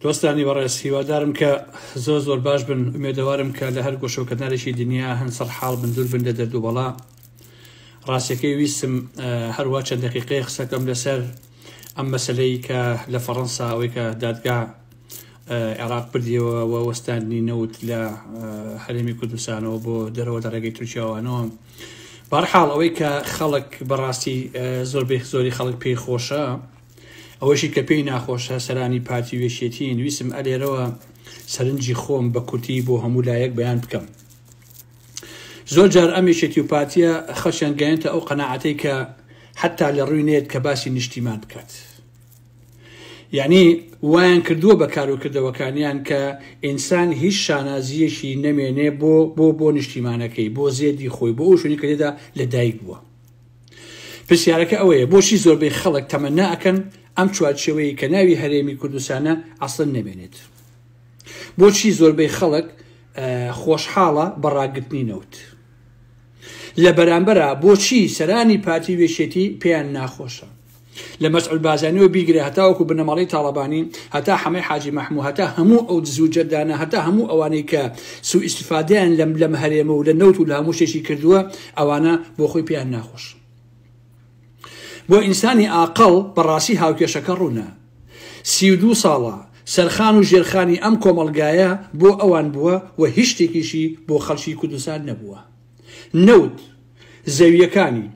دۆستانی بەڕێز هیوادارم کە زۆر زۆر باش بن ئومێدەوارم کە لە هەر گۆشە و کەنارێکی دنیا هەن سەر حاڵ بن دوور بن لە دەردو بەڵا ڕاستەکەی ویستم هەروە چەند دقیقەیە قسەکەم لەسەر ئەم مەسلەی کە لە فەڕەنسا ئەوەی کە دادگا عێراق بردیەوە و وەستاندنی نەوت لە هەرێمی کوردستانەوە بۆ دەرەوە لە ڕێگەی تورکیاوانەوە بارحاڵ ئەوەی کە خەڵک بەڕاستی زۆربەی زۆری خەڵک پێی خۆشە ئەوەشی کە پێی ناخۆشە سەرانی پارتی وێشێتین ویسم ئەلێرەوە سەرنجی خۆم بە کورتی بۆ هەموو لایەک بەیان بکەم زۆر جار ئەم یشێتی و پارتیە خەشیان گەێنتە ئەو قەنەعاتەی کە حتا لە ڕووی نێت کە باسی نیشتیمان بکات یعنی وایان کردووە بە کاروکردەوەکانیان کە ئینسان هیچ شانازیەکی نەمێنێ بۆ بۆ بۆ نیشتیمانەکەی بۆ زێدی خۆی بۆ ئەو شوێنی کە لێدا لەدایک بووە پرسیارەکە ئەوەیە بۆچی زۆربەی خەڵک تەمەنا ئەکەن ئەم چوارچێوەیە کە ناوی هەرێمی کوردستانە ئەسڵن نەبێنێت بۆچی زۆربەی خەڵک خۆشحاڵە بەڕاگرتنی نەوت لە بەرامبەرە بۆچی سەرانی پارتی وێشێتی پێیان ناخۆشە لە مەسعود بازانیەوە بیگرە هەتاوەکو بنەماڵەی تاڵەبانی هەتا حەمەی حاجی مەحموو هەتا هەموو ئەو دزو جەدانە هەتا هەموو ئەوانەی کە سوو ئیسفادیان لەم لەم هەرێمە و لە نەوت و لە هەموو شتێکی کردووە ئەوانە بۆ خۆی پێیان ناخۆش بۆ ئینسانی ئاقڵ بەڕاستی هاوکێشەکە ڕوونە سی و دوو ساڵە سەرخان و ژێرخانی ئەم کۆمەڵگایە بۆ ئەوان بووە و هیچ شتێکیشی بۆ خەڵکی کوردستان نەبووە نەوت، زەوییەکانی،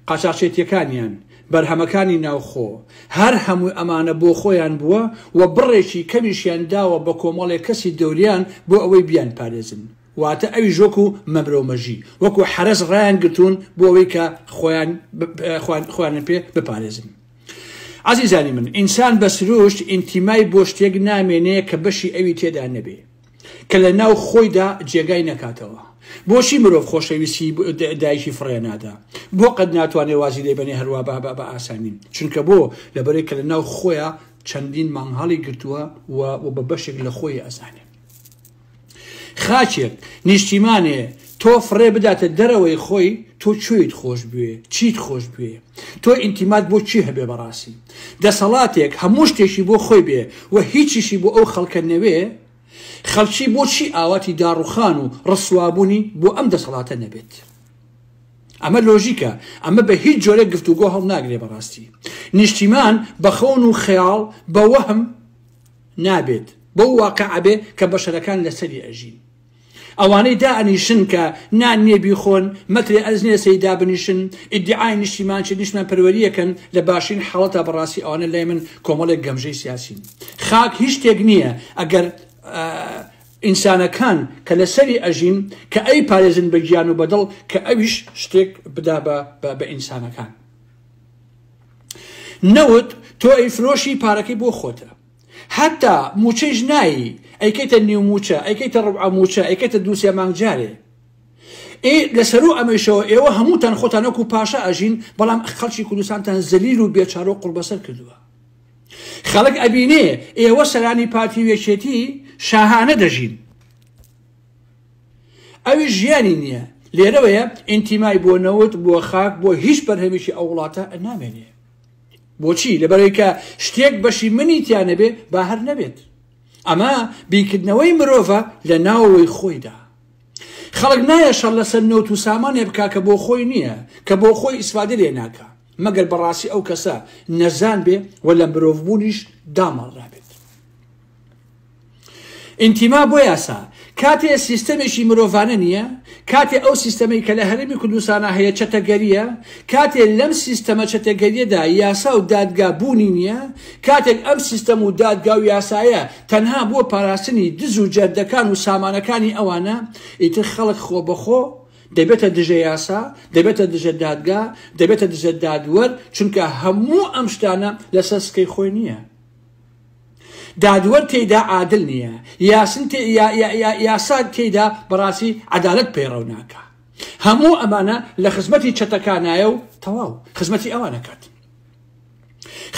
قاچاخچێتییەکانیان، بەرهەمەکانی ناوخۆ، هەر هەموو ئەمانە بۆ خۆیان بووە و بڕێکی کەمیشیان داوە بە کۆمەڵێک کەسی دەوریان بۆ ئەوەی بیانپارێزن، واتە ئەویش وەکو مەمرە و مەژی، وەکو حەرەس ڕایانگرتوون بۆ ئەوەی کە خۆیان خۆیانیان پێ بپارێزن. ئازیزانی من، ئینسان بە سروشت ئینتیمای بۆ شتێک نامێنێ کە بەشی ئەوی تێدا نەبێ. کە لە ناو خۆیدا جێگای نەکاتەوە. بۆچی مرۆڤ خۆشەویستی دایکی فڕێ نادا؟ بۆ قەت ناتوانێ وازی لێ بەنێ هەروا بابا بە ئاسانی؟ چونکە بۆ؟ لەبەرەی کە لە ناو خۆیا چەندین مانگ هەڵی گرتووە و و بە بەشێک لە خۆی ئەزانێ. خاکێک، نیشتیمانێ، تۆ فڕێ بداتە دەرەوەی خۆی تۆ کوێیت خۆش بوێ چیت خۆش بوێ تۆ ئینتیمات بۆ چی هەبێ بەڕاستی دەسەڵاتێک هەموو شتێکی بۆ خۆی بێ و هیچیشی بۆ ئەو خەڵکە نەوێ خەڵکی بۆچی ئاواتی داڕوخان و ڕسوابوونی بۆ ئەم دەسەڵاتە نەبێت ئەمە لۆژیکە ئەمە بە هیچ جۆرە گفتوگۆ هەڵ ناگرێ بەڕاستی نیشتیمان بە خەون و خەیاڵ بە وەهم نابێت بەو واقع ئەبێ کە بەشەرەکان لەسەری ئەژین ئەوانەی دائەنیشن کە نان نیە بیخۆن، مەکرێ ئەرز نیە سەری دابنیشن، ئیدیعای نیشتیمان چیە نیشتمان پەروەریەکەن، لە باشترین حاڵەتا بەڕاستی ئەوانە لای من کۆمەڵێک گەمژەی سیاسین. خاک هیچ شتێک نیە ئەگەر ئینسانەکان کە لەسەری ئەژین کە ئەیپارێزن بە گیان و بە دڵ کە ئەویش شتێک بدا بە بە ئینسانەکان. نەوت تۆ ئەیفرۆشی پارەکەی بۆ خۆتە. هەتا موچەیش نایی ئەیکەیتە نیو موچە ئەیکەیتە ڕوبعە موچە ئەیکەیتە دوو سێ مانگ جارێ ئێ لەسەرو ئەمەیشەوە ئێوە هەمووتان خۆتان وەکو پاشا ئەژین بەڵام خەڵکی کوردستانتان زەلیل و بێچارە و قوڕبەسەر کردووە خەڵک ئەبینێ ئێوە سەرانی پارتی و یەکێتی شاهانە دەژین ئەوی ژیانی نییە لێرەوەیە ئینتیمای بۆ نەوت بۆ خاک بۆ هیچ بەرهەمێکی ئەو وڵاتە نامێنێ بۆچی؟ لەبەرەوەی کە شتێک بەشی منی تیا نەبێ با هەر نەبێت. ئەمە بیرکردنەوەی مرۆڤە لە ناوەوەی خۆیدا. خەڵک نایە شەڕ لەسەر نەوت و سامانێ بکا کە بۆ خۆی نییە، کە بۆ خۆی ئیسفادە لێ ناکا، مەگەر بەڕاستی ئەو کەسە نەزان بێ و لە مرۆڤبوونیش داماڵرابێت. ئینتیما بۆ یاسا کاتێ سیستەمێکی مرۆڤانە نییە، کاتێ ئەو سیستەمەی کە لە هەرێمی کوردستانا هەیە چەتەگەرییە، کاتێ لەم سیستەمە چەتەگەرییەدا یاسا و دادگا بوونی نییە، کاتێک ئەم سیستەم و دادگا و یاسایە تەنها بۆ پاراستنی دز و جەردەکان و سامانەکانی ئەوانە، ئیتر خەڵک خۆبەخۆ دەبێتە دژە یاسا، دەبێتە دژە دادگا، دەبێتە دژە دادوەر، چونکە هەموو ئەم شتانە لەسەر سکەی خۆی نییە. دادوەر تێیدا عادل نیە، یاسن تێ یا یا یا یاسا تێیدا بەڕاستی عەدالەت پەیڕەو ناکا. هەموو ئەمانە لە خزمەتی چەتەکانایە و تەواو خزمەتی ئەوان ئەکات.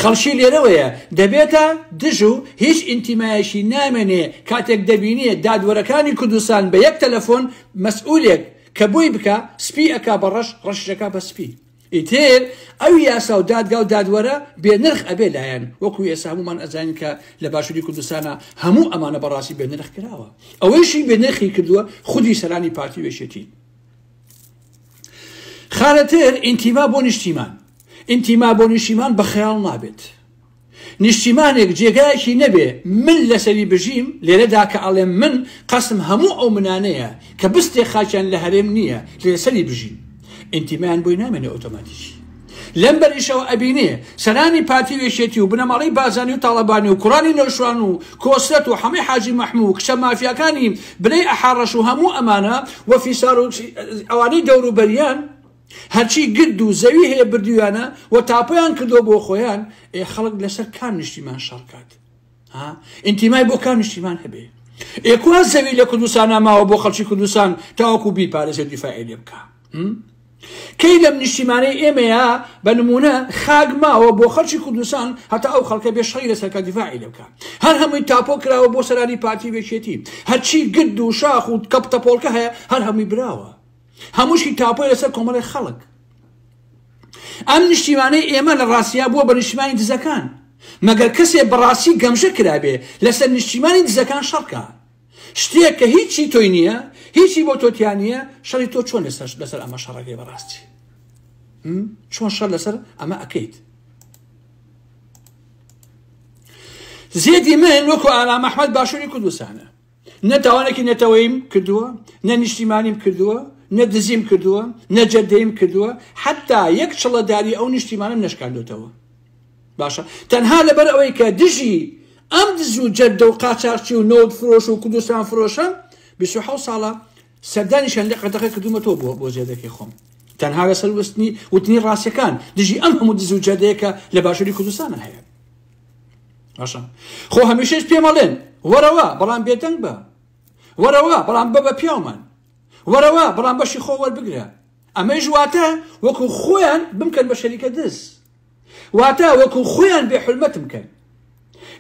خەڵکی لێرەوەیە دەبێتە دژ و هیچ ئینتیمایەکی نامێنێ کاتێک دەبینێ دادوەرەکانی کوردستان بە یەک تەلەفۆن مەسئولێک کە بۆی بکا سپی ئەکا بە ڕەش ڕەشیش ئەکا بە سپی. ئیتر ئەوی یاساو دادگاو دادوەرە بێ نرخ ئەبێ لایەن وەکو ئێستا هەموومان ئەزانین کە لە باشوری کوردستانا هەموو ئەمانە بەڕاستی بێ نرخ کراوە ئەوەیشی بێ نرخی کردووە خودی سەرانی پارتی وێشێتین خارەتر ئینتیما بۆ نیشتیمان ئینتیما بۆ نیشتیمان بە خەیاڵ نابێت نیشتیمانێک جێگایەکی نەبێ من لەسەری بژیم، لێرەدا کە ئەڵێم من، قەستم هەموو ئەو منانەیە کە بستێک خاکیان لە هەرێم نییە لەسەری بژین، ئینتیمایان بۆی نامێنێ ئۆتۆماتیکی. لەمبەریشەوە ئەبینێ سەرانی پارتی و یەکێتی و بنەماڵەی بارزانی و تاڵەبانی و کوڕانی نەوشروان و کۆسرەت و حەمەی حاجی مەحموو و کچە مافیاکانی بنەی ئەحاڕەش و هەموو ئەمانە و فیسار و ئەوانەی دەوروبەریان هەرچی گرد و زەوی هەیە بردویانە و تاپۆیان کردوە بۆ خۆیان، ئێ خەڵک لەسەر کام نیشتیمان شەڕکات؟ ها؟ ئینتیمای بۆ کام نیشتیمان هەبێ؟ ئێ کوا زەوی لە کوردستانا ماوە بۆ خەڵکی کوردستان تاوەکو بیپارێزێ و دیفاعی لێ بکا؟ کەی لەم نیشتیمانەی ئێمەیە بە نمونە خاک ماوە بۆ خەڵکی کوردستان هەتا ئەو خەڵکە بێ شەڕی لەسەرکە دیفاعی لێ بکا؟ هەر هەمووی تاپۆ کراوە بۆ سەرانی پارتی و یەکێتی، هەرچی گرد و شاخ و کەپتەپۆڵکە هەیە هەر هەمووی براوە. هەمووشی تاپۆی لەسەر کۆمەڵی خەڵک ئەم نیشتیمانەی ئێمە لە ڕاستیا بووە بە نیشتیمانی دزەکان مەگەر کەسێ بەڕاستی گەمژە کرابێ لەسەر نیشتیمانی دزەکان شەڕکە شتێک کە هیچی تۆی نییە هیچی بۆ تۆتیان نییە شەڕی تۆ چۆن لەسەر لەسەر ئەمە شەڕەکەی بەڕاستی چۆن شەر لەسەر ئەمە ئەەکەیت زێدی من وەکو ئارام ئەحمد باشووری کوردستانە نە تاوانێکی نەتەوەیم کردووە نە نیشتیمانیم کردووە نە دزیم کردووە نە جەدەیم کردووە حتا یەک چڵەداری ئەو نیشتیمانم نشکاندوتەوە باشە تەنها لەبەر ئەوەی کە دژی ئەم دز و جەدە و قاچاقچی و نەوت فرۆش و کوردستان فرۆشە 26 ساڵە سەردانی شەندە قەتەقە کردومە تۆ بۆ بۆ زێدەکەی خۆم تەنها لەسەر وستنی وتنی ڕاستەکان دژی ئەم هەموو دز و جەدەیەکە لە باشووری کوردستانە هەیە باشە خۆ هەمیشەش پێمەڵێن وەرەوە بەڵام بێدەنگ بە وەرەوە بەڵام بە بە پیاومان وەرەوە بەڵام بەشی خۆ وەربگرە ئەمەی ژواتە وەکو خۆیان بمکەن بە شەریکە دز واتە وەکو خۆیان بێ حلمەتم کەن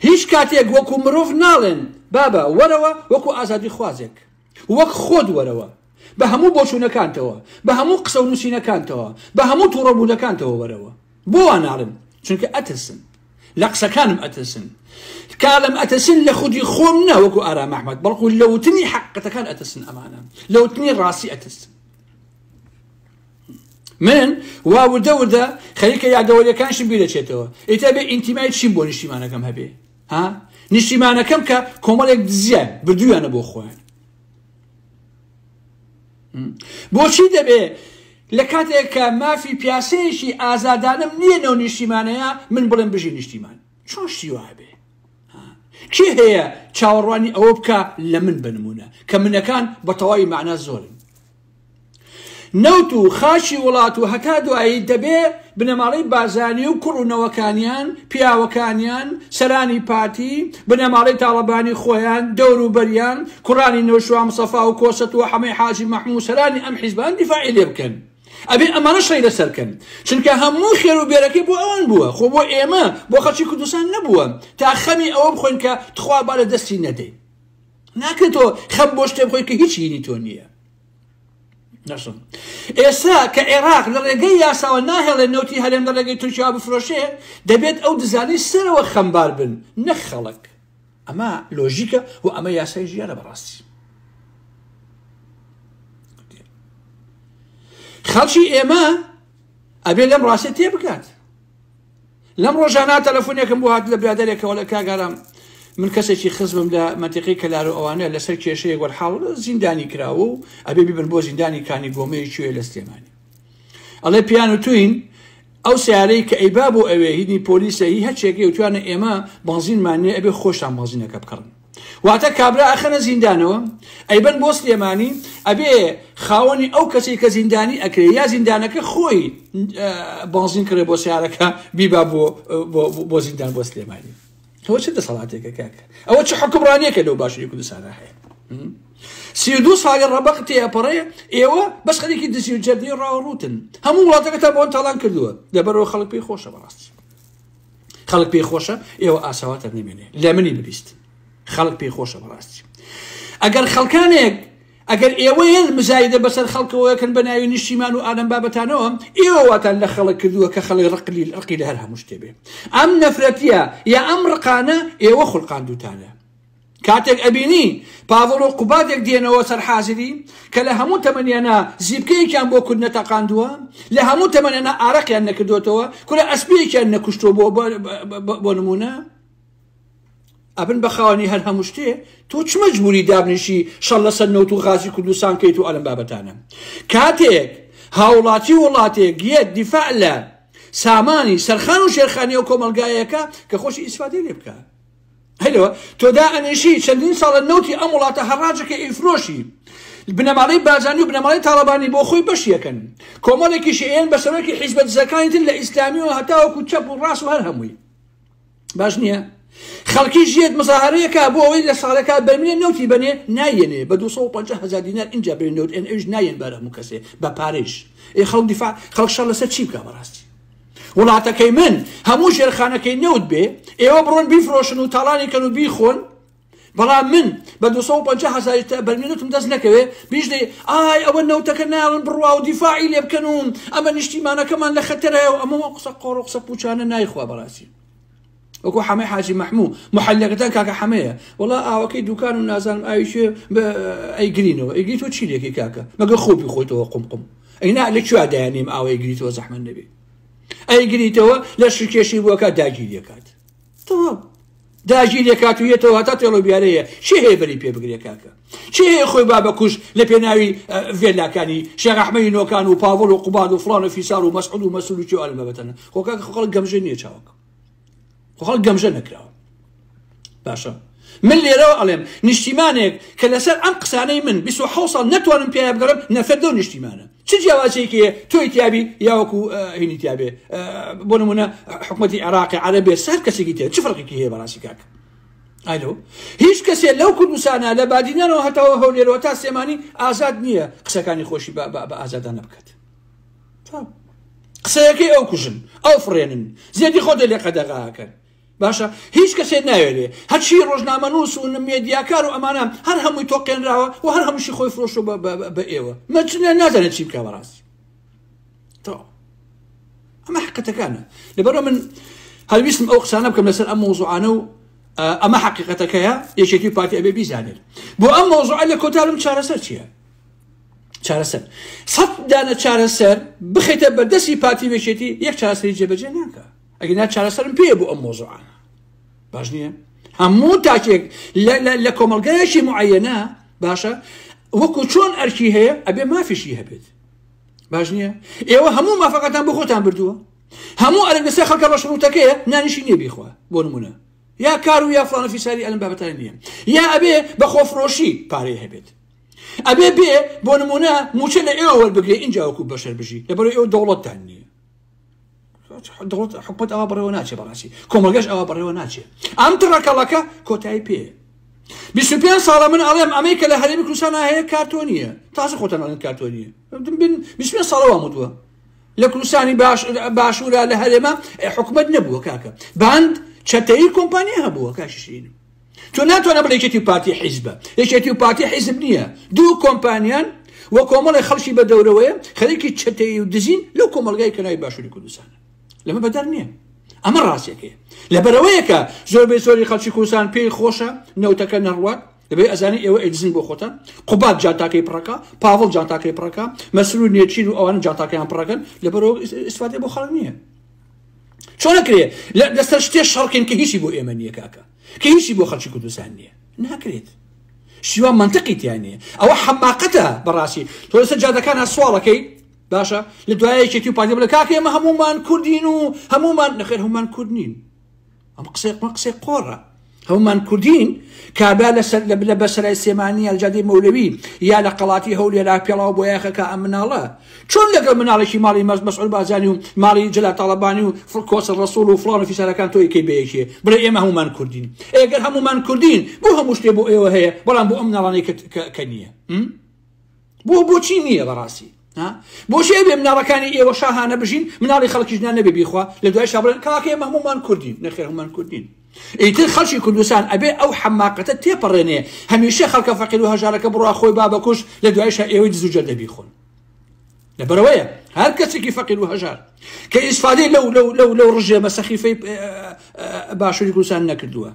هیچ کاتێک وەکو مرۆڤ ناڵێن بابە وەرەوە وەکو ئازادی خوازێک وەک خۆت وەرەوە، بە هەموو بۆچوونەکانتەوە، بە هەموو قسە و نووسینەکانتەوە، بە هەموو تووڕە بوونەکانتەوە وەرەوە. بۆ وا ناڵێم؟ چونکە ئەترسم. لە قسەکانم ئەترسن. کالم ئەترسن لە خودی خۆم نە وەکو ئارام ئەحمەد، بەڵکو لە وتنی حەقیقەتەکان ئەترسن ئەمانە. لە وتنی ڕاستی ئەترسن. من وا وردە وردە خەریکە یادەوەریەکانشم بیرەچێتەوە. ئیتر بێ ئینتیمای چیم بۆ نیشتیمانەکەم هەبێ؟ ها نیشتیمانەکەم کە کۆمەڵێک دزیان بردویانە بۆ خۆیان بۆچی دەبێ لە کاتێک کە مافی پیاسەیەکی ئازادانم نییە نەو نیشتیمانەیە من بڵێم بژی نیشتیمان چۆن شتی وابێ کێ هەیە چاوەڕوانی ئەوە بکە لە من بنمونە کە منەکان بە تەواوی معنا زۆرن نەوت و خاکی وڵات و هەتا دوایی دەبێ بنەماڵەی بارزانی و کوڕ و نەوەکانیان، پیاوەکانیان، سەرانی پارتی، بنەماڵەی تاڵەبانی خۆیان، دەوروبەریان، کوڕانی نەوشیروان مستەفا و کۆسە تۆ حەمەی حاجی مەحموو سەرانی ئەم حیزبان دیفاعی لێ بکەن. ئەبێ ئەمانەش ڕێی لەسەر کەن. چونکە هەموو خێر و بێرەکەی بۆ ئەوان بووە. خۆ بۆ ئێمە، بۆ خەڵکی کوردستان نەبووە. تا خەمی ئەوە بخۆین کە تخوا با لە دەستی نەدەین. ناکرێتەوە خەم بۆ شتێ بخۆی کە هیچ هینی تۆ نییە نەسم ئێستا کە عێراق لە ڕێگەی یاساوە ناهێڵێ نەوتی هەرێم لە ڕێگەی تورکیا بفرۆشێ دەبێت ئەو دزانی سەرەوە خەمبار بن نەک خەڵک ئەمە لۆژیکە و ئەمە یاسای ژیانە بەڕاستی خەڵکی ئێمە ئەبێ لەم ڕاستە تێ بکات لەم ڕۆژانە تەلەفۆنێکم بۆ هات لە برادێکەوە لە کاگارام من کەسێکی خزمم لە مەتیقی کەلار و ئەوانە لەسەر کێشەیە گۆرحاڵ زیندانی کراوە و ئەبێ ببن بۆ زیندانی کانی گۆمەیە کوێ لە سلێمانی ئەڵێ پیان و توین ئەو سیارەی کە ئەیبا بۆ ئەوێ هینی پۆلیسە هی هەچێکی وتوانە ئێمە بەنزینمانێ ئەبێ خۆشتان بەنزینەکە بکڕن واتە کابرا ئەخەنە زیندانەوە ئەیبەن بۆ سلێمانی ئەبێ خاوەنی ئەو کەسی کە زیندانی ئەکرێ یا زیندانەکە خۆی بازین کرێ بۆ سیارەکە بیبا بۆ زیندان بۆ سلێمانی ئەوە چ دەسەڵاتێکە کاکە ئەوە چ حکومڕانیەکە لەو باشووری کوردستانە هەیە سی دو ساڵی ڕەبق تێپەڕێ ئێوە بەس خەرێکی دزی و جەردی ڕاوڕوتن هەموو وڵاتەکەتە بۆن تاڵان کردووە لەبەرەوە خەڵک پێی خۆشە بەڕاستی خەڵک پێی خۆشە ئێوە ئاساواتە نەمێنێ لە منی ببیست خەڵک پێی خۆشە بەڕاستی ئەگەر خەڵکانێک ئەگەر ئێوەیان مزایدە بەسەر خەڵکەوەکەن بە ناوی نیشتیمان و ئالم بابەتانەوە ئێوەواتان لە خەڵک کردووە کە خەڵی ڕقلی ڕقی لە هەر هەموو شتێبێ ئەم نەفرەتە یا ئەم ڕقانە ئێوە خولقاندوتانە کاتێک ئەبینی پاڤڵ و قوبادێک دێنەوە سەر حازری کە لە هەموو تەمەنیانا زیپکەیەکیان بۆ کورد نەتەقاندووە لە هەموو تەمەنیانا ئارەقیان نەکردوێتەوە کورە ئەسپیەکیان نەکوشتووە بۆ بۆ نمونە ئەبن بە خاوەنی هەر هەموو شتێ تۆ چ مەجبوری دابنیشی شەڵ لەسەر نەوت و غازی کوردستان کەیت و ئەلم بابەتانە کاتێک هاوڵاتی وڵاتێک یەت دیفاع لە سامانی سەرخان و شێرخانی و کۆمەلگایەکە کە خۆشی ئیسفادێ لێ بکە هەرەوە تۆ دائەنێشی چەندین ساڵە نەوتی ئەم وڵاتە هەڕاجەکە ئیفرۆشی بنەماڵەی بارزانی و بنەماڵەی تاڵەبانی بۆ خۆی بەشیەکەن کۆمەڵێکیش ئێن بە سەرۆکی حیزبە دزەکانی تر لە ئیسلامی و هەتاوەکو چەپ و ڕاست و هەر هەمووی باش نییە خەڵکی ژێت مزاهرەیەکە بۆ ئەوەی لە ساڵەکە بەرمێ نەوتی بنێ نایەنێ بە 250 هزار دینار اینجا بێ نەوت ئەن ئەوش نایەن بارە هەموو کەسێ بە پارێش ئێ خەڵک دیفاع خەڵک شەڕ لەسەر چی بکە بەڕاستی وڵاتەکەی من هەموو ژێرخانەکەی نەوت بێ ئێوە بڕۆن بیفرۆشن و تاڵانی کەن و بیخۆن بەڵام من بە 250 هزاری تا بەرمێنوتم دەست نەکەوێ بیژدەی ئای ئەوە نەوتەکە ناڵن بڕوا و دیفاعی لێ بکەن و ئەمە نیشتیمانەکەمان لە خەتەرەیە و ئەمە قسە قۆڕ و قسە پوچانە نایخوا بەڕاستی وەکو حەمەی حاجی مەحموو محلەکەتان کاکە حەمەیە وڵا ئاوەکەی دوکان و نازانم ئاویشێ ئەیگرینەوە ئەیگری تۆ چی لێکی کاکە مەگە خۆپی خۆیتەوە قمقم ئەینا لە کوێ دایانیم ئاوەی گریتەوە زەحمە نەبێ ئەیگریتەوە لە شکێشی بووەکە داگیر دەکات تەوا داگیر دەکات و یەتەوە هەتا تێڵۆ بیارەیە چی هەیە بەری پێ بگرێ کاکە چی هەیە خۆی بابە کوش لە پێناوی ڤێلاکانی شێغەحمەی نۆکان و پاڤڵ و قوباد و فلان و فیسار و مەسعود و مەسول و چێوان بەبەتەنە خۆکە خەڵک گەمژە نییە چاوەکە خۆڵ گەمژە نەکراوە باشە من لێرەوە ئەڵێم نیشتیمانێک کە لەسەر ئەم قسانەی من 26 ساڵ نەتوانم پێ بگەڕم نەفەت دەو نیشتیمانە چ جیاوازێکی تۆی تیابی یاوەکو هینی تیاابێ بۆ نمونە حکوومەتتی عێراقی عربێ سەر کەسێکی تێ چ فڕقێکی هەیە بەڕاستی کاک ئەلو هیچ کەسێ لەو کوردستانە لە بادینەوە هەتاوە هەولێرەوە تا سێمانی ئازاد نییە قسەکانی خۆشی بە ئازادانە بکات تام. قسەیەکەی ئەو کوژن ئەو فڕێنن زێدی خۆ دەلێ قەدەغاکەن باشە هیچ کەسێ ناوێرێ هەرچی ڕۆژنامەنووس و مێدیاکار و ئەمانە هەر هەمووی تۆقێنراوە و هەر هەمووشی خۆی فرۆشۆ بە ئێوە مەچنە نازانێت چی بکە بەڕاستی تەواو ئەمە حقەتەکانە لەبەرە من هەویستم ئەو قسانە بکەم لەسەر ئەم مۆزوعانە و ئەمە حقیقەتەکەیە یەکێتی پارتی ئەبێ بیزانێت بۆ ئەم مۆزوع لە کۆتارم چارەسەر چییە چارەسەر سەد دانە چارەسەر بخیتە بەردەستی پارتی وێشێتی یەک چارەسەری جێبەجێ ناکە ئەگە نا چارەسەرم پێ بۆ ئەم مۆزوعانە باش نییە هەموو تاکێک لە کۆمەلگایەکی معەنە باشە وەکو چۆن ئەرکی هەیە ئەبێ مافیشی هەبێت باش نییە ئێوە هەموو مافەکەتان بۆ خۆتان بردووە هەموو ئەرک لەسەر خەڵکە بە شڕوتەکەیە نانیشی نیە بیخوا بۆ نمونە یا کار و یا فلانە فیساری ئەلم بابەتان نییە یا ئەبێ بە خۆفرۆشی پارەی هەبێت ئەبێ بێ بۆ نمونە موچە لە ئێوە وەربگرێ اینجا وەکو بەشەر بژی لەبەر ئێوە دەوڵەتتان نییە دەوڵەت حکومت ئەوە بڕێوە ناچێ بەڕاستی کۆمەگەش ئەوە بڕێوە ناچێ ئەم تڕەکەڵەکە کۆتایی پێ 25 ساڵە من ئەڵێم ئەمەی کە لە هەرێمی کوردستان هەیە کارتۆ نییە تازە خۆتان ئەڵێن کارتۆ نییە بن 25 ساڵەوە مدووە لە کوردستانی باش باشوورە لە هەرێمە حکومت نەبووە کاکە باند چەتەی کۆمپانیا هەبووە کاششین تۆ ناتوانە بڵێ یەکێتی و پارتی حیزبە یەکێتی و پارتی حیزب نییە دوو کۆمپانیان و کۆمەڵی خەڵکی بە دەورەوەیە خەریکی چەتەیی و دزین لەو کۆمەلگای کەناوی باشووری کوردستانە لەمە بەدەر نییە ئەمە ڕاستێکەیە لە بەرەوەیەکە زۆر بێ زۆری خەڵکی کوردستان پێی خۆشە نەوتەکە نەڕوات دەبێت ئەزانی ئێوە ئەدزین بۆ خۆتان قوبات جاتاکەی پڕەکە پاوڵ جاتاکەی پڕەکە مەسرور نێچیر و ئەوان جاتاکەیان پڕەکەن لەبەرەوە ئیسفادە بۆ خەڵک نییە چۆن ئەکرێ لە لەسەر شتێ شەڕکەین کە هیچی بۆ ئێمە نییە کاکە کە هیچی بۆ خەڵکی کوردستان نییە ناکرێت شیوا منطقی تیانەیە ئەوە حەماقەتە بەڕاستی تۆ لەسەر جادەکان سوواڵەکەی باشە لە دوایەکێتی و پارتی بڵێ کاکە ئێمە هەمومان کوردین و هەمومان نەخێر هەمومان کورد نین ئەم قسەی قۆ قسەی قۆڕە هەومان کوردین کابرا لەسەر لە بلە بەسەرای سێمانی یاجادی مەولەوی یا لە قەڵاتی هەولێرا پێڵاو بۆ یاخەکە ئەم مناڵە چۆن لەگەڵ مناڵێکی ماڵی مەز مەسعود بازانی و ماڵی جلا تاڵەبانی و فڵکۆسە ڕسوڵ و فڵان و فیسارەکان تۆی کەی بەیەکێ بڵێ ئێمە هەمومان کوردین ئێگەر هەمومان کوردین بۆ هەموو شتێ بۆ ئێوە هەیە بەڵام بۆ ئەم مناڵانەی کە نییە بۆ بۆچی نییە بەڕاستی ها بۆچی ئەبێ مناڵەکانی ئێوە شاهانە بژین مناڵی خەڵکیش نا نەبێ بیخوا لە دوای شا بڵێن کاکە ئێمە هەموومان کوردین نەخێر هەموومان کوردین ئیتر خەڵکی کوردستان ئەبێ ئەو حەماقەتە تێپەڕێنێ هەمیشە خەڵکە فەقیر و هەژارەکە بڕوا خۆی بابەکوش لە دوای شا ئێوەی دز و جەردە بیخۆن لەبەرەوەیە هەر کەسێکی فەقیر و هەژار کە ئیسفادەی لەو لەو لەو لەو ڕژێمە سەخیفەی باشووری کوردستان نەکردووە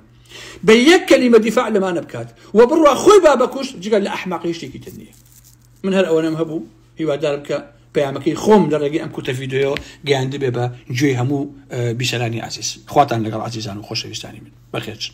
بە یەک کەلیمە دیفاع لەمانە بکات و بڕوا خۆی با بەکوشت جگە لە ئەحمەقی شتێکی تر نییە من هەر ئەوەنەم هەبوو هیوادارم کە پەیامەکەی خۆم لە ڕێگەی ئەم کوتە ڤیددیو گەیاندبێ بە گوێی هەموو بیسەرانی عزیز خواتان لەگەڵ عزیزان و خۆشەویستانی من بەخێرچن